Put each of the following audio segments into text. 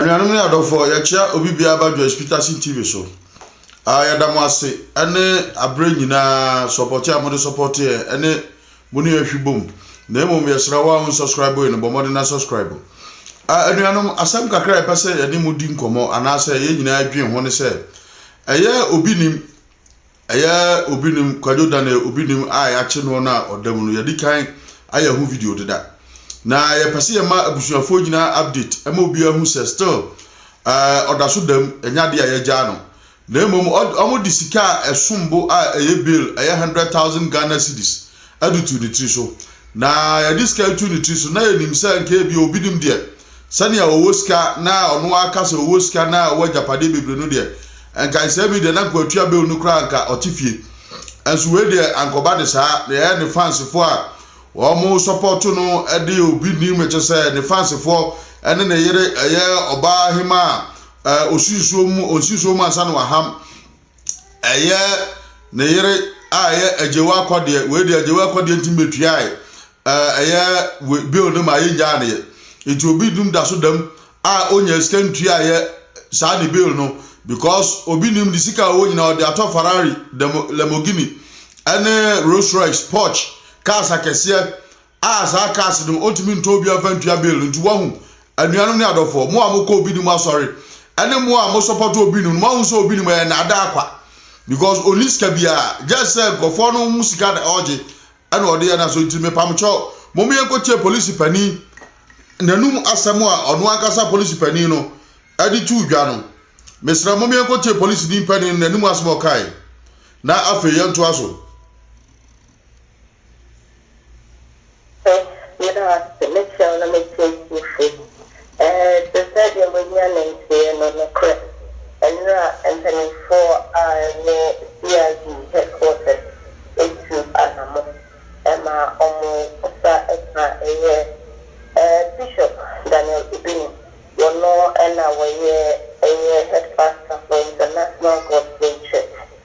Anuanom ne adɔfoɔ, yɛkyea obi biara ba Joyce Peterson TV so. Ah, yɛda mo ase ɛne aberɛ nyinaa sɔpɔte a mode sɔpɔte yɛn ɛne mo ne yɛn hwi bom. Na mmom yɛsrɛ wo a wonsɔskraibo yɛn no bɔ mmɔden na sɔskraibo. Ah, anuanom, asɛm kakra a yɛpɛ sɛ yɛne mo di nkɔmmɔ anaasɛ yɛn nyinaa dwen ho ne sɛ, ɛyɛ a obi nim Ɛyɛ obi nim Kwadwo Daniel obi nim a yɛakye noɔ no a ɔda mu no yɛde kan ayɛ ho video deda na yɛpɛ sɛ yɛma abusuafoɔ nyinaa update ɛma obiara hu sɛ still uh, ɔda so dam ɛnyɛ adeɛ a yɛagyaa no na mmom wɔn de sika a ɛsom bo a ɛyɛ bail ɛyɛ hundred thousand Ghana cedis ɛde tu ne tiri so na yɛde sika tu ne tiri so na yɛnim sɛ nka ebi obi nim deɛ Sɛnea ɔwɔ sika na ɔno ara ka sɛ ɔwɔ sika na ɔwɔ agyapadeɛ bebree no deɛ, nka nsɛm yi deɛ na nka ɔtua bill no koraa nka ɔte fie. Nso wei deɛ anka ɔba de saa na ɛyɛ ne fansfoɔ a wɔn sɔpɔto no de obi nim ɛkyɛ sɛ ne fansfoɔ ne ne yere ɛyɛ ɔbaa hemaa a ɔsi nsuo mu ɔnsi nsuo mu ansa na waham ɛyɛ ne yere a ɛyɛ agyewa akɔdeɛ wei deɛ agyewa akɔdeɛ nti metuae ɛɛ ɛyɛ wei bill no ma yɛngyaa ne yɛ nti obi dum da so dam a ɔnya sika ntuaeɛ saa ne bill no because obi nim de sika a ɔwɔ nyinaa ɔde atɔ Ferrari dɛm Lamborghini ɛne Rolls Royce Porsche cars akɛseɛ. a saa cars no ɔntumi ntɔ obi amfa ntua bill nti wahu anuanom ne adɔfoɔ mo a mokɔ obi no mu asɔre ɛne mo a mo support obi no no mahu sɛ obi no mu ɛyɛ naadaa kwa because ɔni sika biara just sɛ nkurɔfoɔ no ho sika na ɔgye ɛna ɔde yɛ na so nti mepamkyɛw mo mo yɛnkɔtie polisi panin n'anum asɛm a ɔno ankasa polisi panin no ɛde tuu dwa no mesrɛ mo mo yɛnkɔtie polisi ni panin n'anum asɛm ɔkae na afei yɛntoa so Ɔsɛ meda ase me kyɛw na me tiatiefo ɛɛ te sɛ deɛ mo ani ananteɛ no nokorɛ ɛnora mpaninfoɔ a ɛwɔ CID headquarters atu anamo ɛma ɔmo sa ɛka ɛyɛ ɛɛ Bishop Daniel Obini wɔno ɛna wɔyɛ ɛyɛ headpastor for International Gospel Church.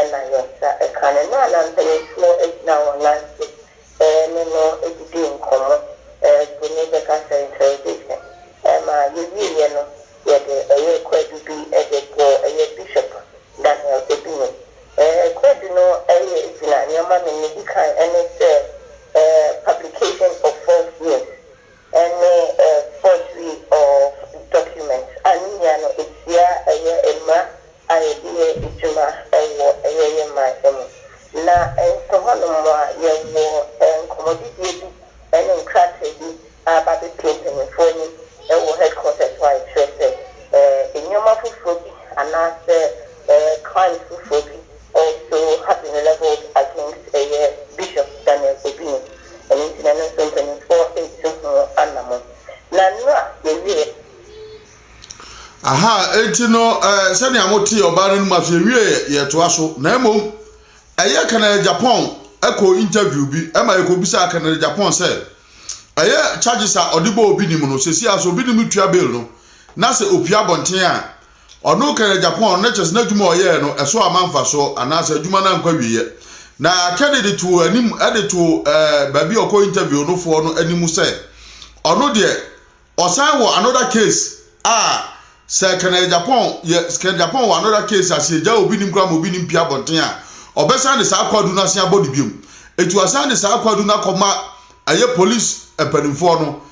Ɛna yɛ na ɛka no na na mpaninfoɔ agyina wɔn nan so ne no didi nkɔmmɔ bu ne bɛka sɛ interrogation ɛma yɛwieɛ no yɛde ɛyɛ kwadu bi de bɔɔ ɛyɛ Bishop Daniel Obini kwadu no ɛyɛ gyina nneɛma me ne di kan ɛne sɛ publication of false news. Ɛne a forgery of documents a ne nyinaa no ɛtia ɛyɛ mmra a yɛde yɛ adwuma wɔ ɛyɛ yɛ man mu. Na nso hɔ nom a yɛwɔ nkɔmmɔdidie bi ne nkrataa bi a aba abɛpue mpaninfoɔ anim wɔ headquarters hɔ a ɛkyerɛ sɛ nnoɔma foforɔ bi anaasɛ crimes foforɔ bi, Also have been levelled against ɛyɛ Bishop Daniel Obini ɛno nti na ɛno nso mpanyinfoɔ retu ho anamon na nnora yɛwieɛ. Aha enti no eh, sɛnea motee ɔbaa no anom ase yɛwieɛ yɛtoa so na mmom ɛyɛ Kennedy Agyapong ɛkɔ interview bi ɛma yɛkɔbisaa Kennedy Agyapong sɛ ɛyɛ charges a ɔde bɔ Obinim no sɛsi a sɛ Obinim tua bail no na sɛ opue abɔnten a Ɔno kɛyɛ Japan na kyerɛ sɛ n'adwuma a ɔyɛe no, ɛso amma mfaso anaasɛ adwuma no ankɔ awieeɛ. Na Kennedy too anim de too baabi a ɔkɔ interview no foɔ no anim sɛ ɔno deɛ ɔsan wɔ another case a sɛ kɛnɛyɛ Japan yɛ kɛn Japan wɔ another case a sɛ yɛgyaa obi nim koraa ma obi nim pie abɔnten a ɔbɛsan de saa kwadu no asen abɔ ne biom. Eti wasan de saa kwadu no akɔma ɛyɛ police mpanimfoɔ no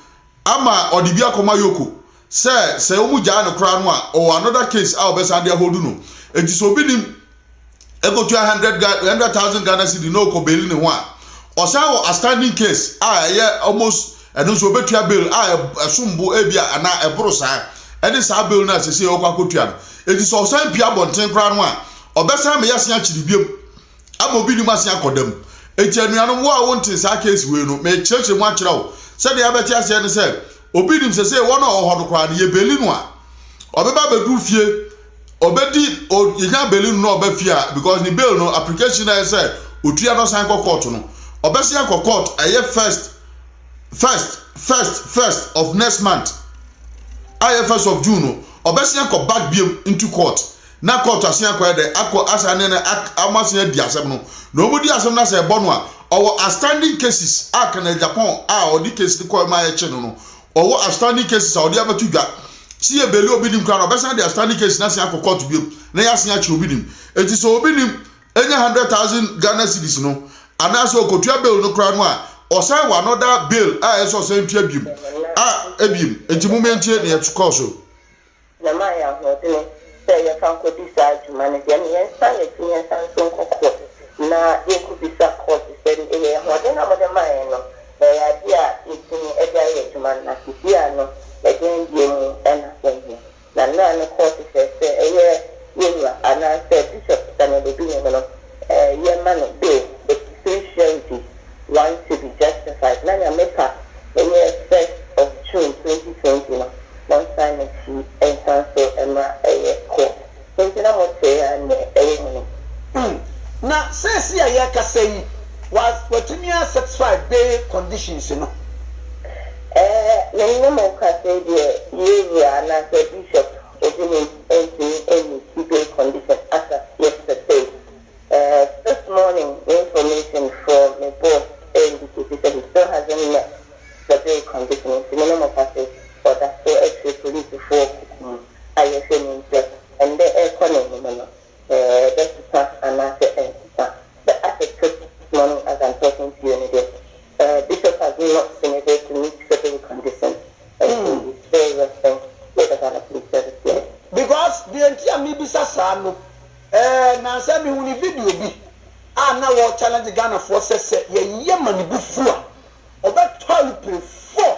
Ama ɔde bi akɔma Yoko sɛ sɛ wɔn gyae no koraa no a ɔwɔ another case a ɔbɛsan de ahold no nti sɛ obi nim ɛkɔtua hundred hundred thousand Ghana cedi na ɔkɔ baili ne ho a ɔsan wɔ astanding case a ɛyɛ almost ɛno nso ɔbɛtua bail a ɛsom bo ebia anaa ɛboro saa ɛne saa bail no a sɛsei ɔkɔ akɔtua no nti sɛ ɔsan pie abɔnten koraa no a ɔbɛsan meyɛ se akyere biom. ama obi nim ase akɔ dam. Enti anuanom, wo a wonte saa case wei no, merekyerɛkyerɛ mu akyerɛ wo. Sɛdeɛ yɛbɛte aseɛ ne sɛ, obi nim sɛsɛ wɔn a ɔwɔ hɔ no koraa no, yɛbeli no a, ɔbɛba abɛduru fie, ɔbɛdi, o, yɛnya beli no na ɔba fie a, because ne bail no, application no a ɛsɛ otua na ɔsan kɔ court no, ɔbɛsan akɔ court, ɛyɛ first, first, first, first of next month, a ɛyɛ first of June no, ɔbɛsan akɔ back biam into court. Na court asen akɔɛ dɛ akɔ asan ne no ak ɔmo asen adi asɛm no na ɔmo di asɛm no asɛ ɛbɔ no a ɔwɔ astanding cases a kɛnɛ Japan a ɔde case no kɔɛ ma yɛkye no no ɔwɔ astanding cases a ɔde abɛto dwa se yɛ beli obi nim koraa no ɔbɛsan de astanding case no asen akɔ court biom na yɛasen akye obi nim enti sɛ obi nim nya hundred thousand Ghana cedis no anaasɛ ɔkɔtua bail no koraa no a ɔsan wɔ another bail a ɛsɛ ɔsan tua biom a ɛbiem enti momma yɛntie nea ɛkɔɔ so. Na ɛma yɛn ahoɔdene sɛ yɛmfa nkɔdi saa dwuma no deɛ no, yɛnsan yɛakyi na yɛnsan nso nkɔ court na yɛnkɔbisa court sɛ yɛn ahoɔdene a mode maa yɛn no, ɛyɛ adeɛ a yɛtumi de ayɛ adwuma no, na seesei no ɛdeɛn deɛ mu na ɛnyɛ. Na nnora no court hyɛɛ sɛ ɛyɛ yɛn wura anaasɛ bishop Daniel Obinigunu, yɛ ma no dɛ osusu nhyira ntsi ɔann to be justified na Nyame pa yɛ first of June twenty twenty no ɔnsan n'ekyir nsan so mra yɛ kɔ ntsi na mo tse a ne wɔ mu no. Umm na sɛsi a yɛ kasa yi watumi a satisfy bail conditions no? Ɛɛ menye mo kasa yi deɛ yɛ wura anaasɛ bishop Ebi wɔ mu ɛntumi ɛnni two day condition as at yesterday eh this morning me information foɔ me boss ɛ indicate sɛ he still hasn't met the day condition nti me ne mo ka sɛ ɔda so akyire police foɔ kuku mu a yɛhwɛ nim sɛ ɛndɛ ɛrekɔ n'anim no bɛsesa anaasɛ ɛnsesa. The Attic Trip This Morning As I'm Talking To You no de, Bishop Aguno Osinede to Meet Frederick Anderson and He Is Still Resting wɔ The Ghana Police Service yɛe. Because deɛ nti a mebisa saa no eh, nansa mehu ne video bi a na wɔ challenge Ghanafoɔ sɛ sɛ yɛyɛ ma ne bo fu a ɔbɛtɔ alupre four.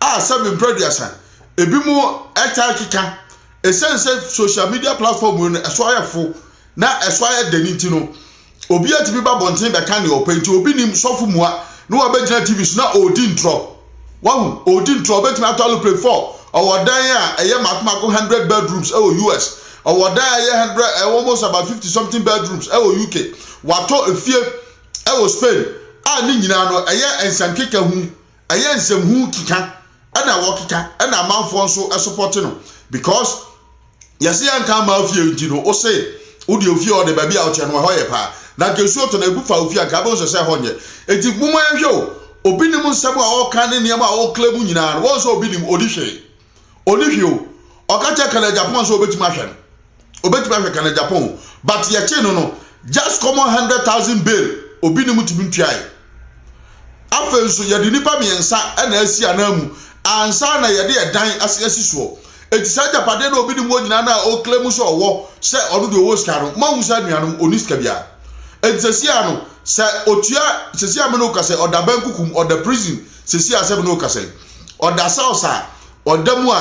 a sɛbe mpra aduasa, ebi mo ɛtaa keka ɛsiane sɛ social media platform no ɛso ayɛ fo na ɛso ayɛ dɛn nti no obi atumi ba bɔnten bɛka ne ɔpɛ nti obi nim sɔfo mua na wabɛgyina tv so na ɔredi ntorɔ wahu ɔredi ntorɔ ɔbɛtumi atɔ aloplane 4 ɔwɔ dan a ɛyɛ mako mako 100 bedrooms ɛwɔ us ɔwɔ dan a ɛyɛ 100 ɛwɔ almost about 50 something bedrooms ɛwɔ uk watɔ efie ɛwɔ spain a ne nyinaa no ɛyɛ nsankeka hu ɛyɛ nsɛmhu keka ɛna wɔkeka ɛna amanfoɔ nso ɛsopɔte no because yɛse yɛnka ama ofie nti no wo se wode ofie ɔde baabi a woteɛ no ɛhɔ yɛ paa na nka nsuo tɔ na ebu fa ofie anka abɛhu sɛ sɛ ɛhɔ nyɛ enti moma yɛhwɛ o obi nim nsɛm a ɔka ne nneɛma a ɔkla mu nyinaa no wɔn sɛ obi nim ɔdi hwee ɔni hwee o ɔka kyerɛ kana japan sɛ ɔbɛtumi ahwɛ no ɔbɛtumi ahwɛ kana japan o but yɛkyee no no just common hundred thousand bail obi ne mu tumi ntuae afei nso yɛde nipa mmiɛnsa na asi anan mu ansa na yɛde ɛdan ase asi soɔ eti saa agyapadeɛ na obi ne mu wɔ nyinaa na ɔkla mu sɛ ɔwɔ sɛ ɔno deɛ ɔwɔ sika no mo ahu saa nuanom ɔni sika biara eti sɛsi ano sɛ otua sɛsi amene oka sɛ ɔda bɛn kukum ɔda prison sisi asɛm no kasa yi ɔda south a ɔda mu a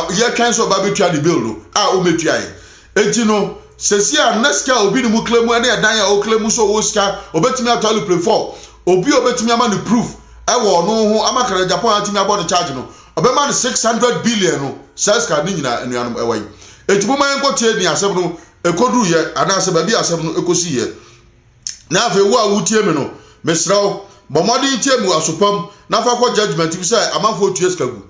yɛtwɛn sɛ ɔba bɛtua ne bill no a ɔmɛtua yɛ enti no sisi a na sika obi ne mu kla mu ne ɛdan a ɔkla mu sɛ ɔwɔ sika ɔbɛtumi atɔ aluplane fɔ obi a ɔbɛtumi ama no proof ɛwɔ ɔno ho ama kana japan atumi abɔ no charge no ɔbɛma no 600 billion no saa sika ne nyinaa anuanom ɛwɔ yi enti mo ma yɛnkɔ tie ne asɛm no ɛkɔduru yɛ anaasɛ baabi asɛm no ɛkɔsi yɛ Na afei wo a woretie me no, mesrɛ wo, bɔ mmɔden tie mu aso pa mu na fa kɔ judgment mu sɛ amanfoɔ tua sika gu.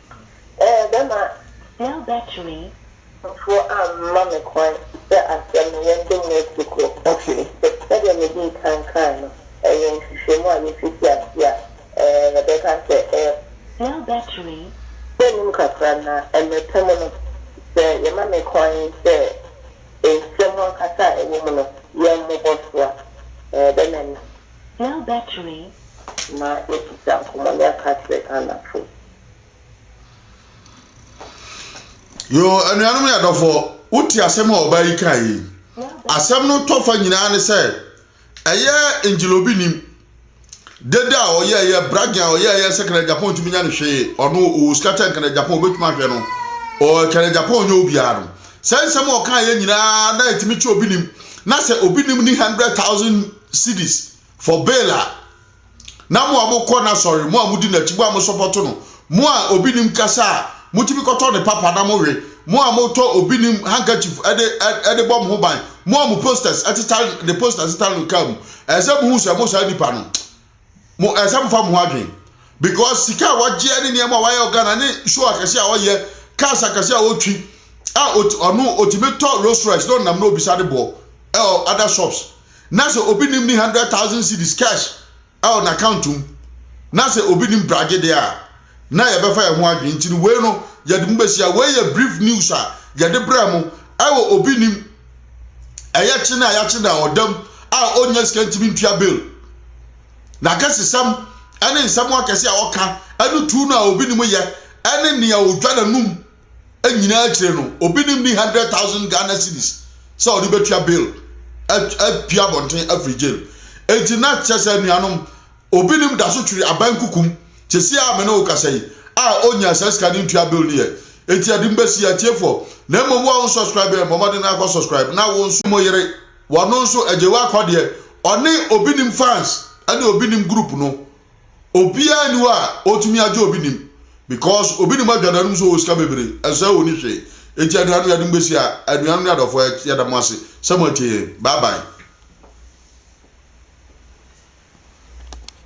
Ɛbɛma cell battery foforɔ amma me kwan sɛ asɛm no yɛnde mu asi kuro. Sɛdeɛ medii kan kae no, ɛyɛ nhwehwɛmu a yɛfiti aseɛ a yɛbɛka sɛ ɛyɛ. Cell battery. Sɛ nnim kakra na mmerɛ pa mu no, sɛ yɛma me kwan sɛ nsɛm ankasa a ɛwɔ mu no yɛmmobɔ so a, ɛbɛma me. Dell battery. Ma yɛntwitwa nkɔmmɔ na yɛnka nkyerɛ Ghanafo. Yoo, anuanom ne adɔfoɔ, wote asɛm a ɔbaa yi kaeɛ yi? Asɛm no tɔ fa nyinaa ne sɛ, ɛyɛ Ngila obi nim. Dede a ɔyɛɛyɛ, bragging a ɔyɛɛyɛ sɛ Canada Japan ntumi nya no hwee, ɔno ɔwɔ sika kyɛn Canada Japan, ɔbɛtumi ahwɛ no, ɔɔ Canada Japan ɔnyɛ obiara no. Saa nsɛm a ɔkaeɛ nyinaa na ɛtumi kyerɛ obi nim, na sɛ obi nim ne 100,000 cedis for bail a na mo a mo kɔ n'asɔre mo a mo di n'akyi mo a mo sɔpɔto no mo a obi nim kasa a mo tumi kɔtɔ ne papa na mo we mo a mo tɔ obi nim handkerchief ɛde ɛde bɔ mo ho ban mo a mo posters ɛteta ne posters ɛteta no kaa mu ɛsɛ mo hu sɛ mo saa nipa no mo ɛsɛ mo fa mo ho adwen because sika a wagye ne nneɛma a wayɛ wɔ ghana ne show akɛse a ɔyɛ cars akɛse a ɔtwi a ɔno ɔtumi tɔ rolls royce na ɔnam na ɔbisa de bɔ ɛwɔ other shops na sɛ obi nim ne hundred thousand cedis cash ɛwɔ n'account mu na sɛ obi nim bragye deɛ a na yɛbɛfa yɛn ho adwene nti no wei no yɛde mu bɛhyia wei yɛ brief news a yɛde brɛ mo ɛwɔ obi nim ɛyɛ kye no a yɛakye no a ɔdam a ɔnya sika ntumi ntua bill na kɛsesɛm ɛne nsɛm akɛse a ɔka ɛne tu no a obi nim yɛ ɛne nea ɔdwa n'anum nyinaa akyire no obi nim ni hundred thousand Ghana cedis sɛ ɔde bɛtua bill apia abɔnten afiri jail enti na kyerɛ sɛ anuanom Obinom da so twere aban kuku mu te se a me ne wo kasa yi a ɔnyaa saa sika no ntua bill no yɛ. Enti ade mba si atiefoɔ na mmom wo a wo nsubscribe yɛn bɔ mmɔden na kɔ subscribe na wo nso. Mo yere wɔno nso agye wo akɔ deɛ ɔne obi nim fans ɛne obi nim group no obiara nni hɔ a ɔtumi agye obi nim Because obi nim adwada no mu sɛ ɔwɔ sika bebree, ɛnsɛ sɛ ɔni hwee. Enti aduane no yɛde mo bɛsi ha. Anuanom ne adɔfoɔ, yɛ, yɛda mo ase sɛ moatie yɛn. Bye bye.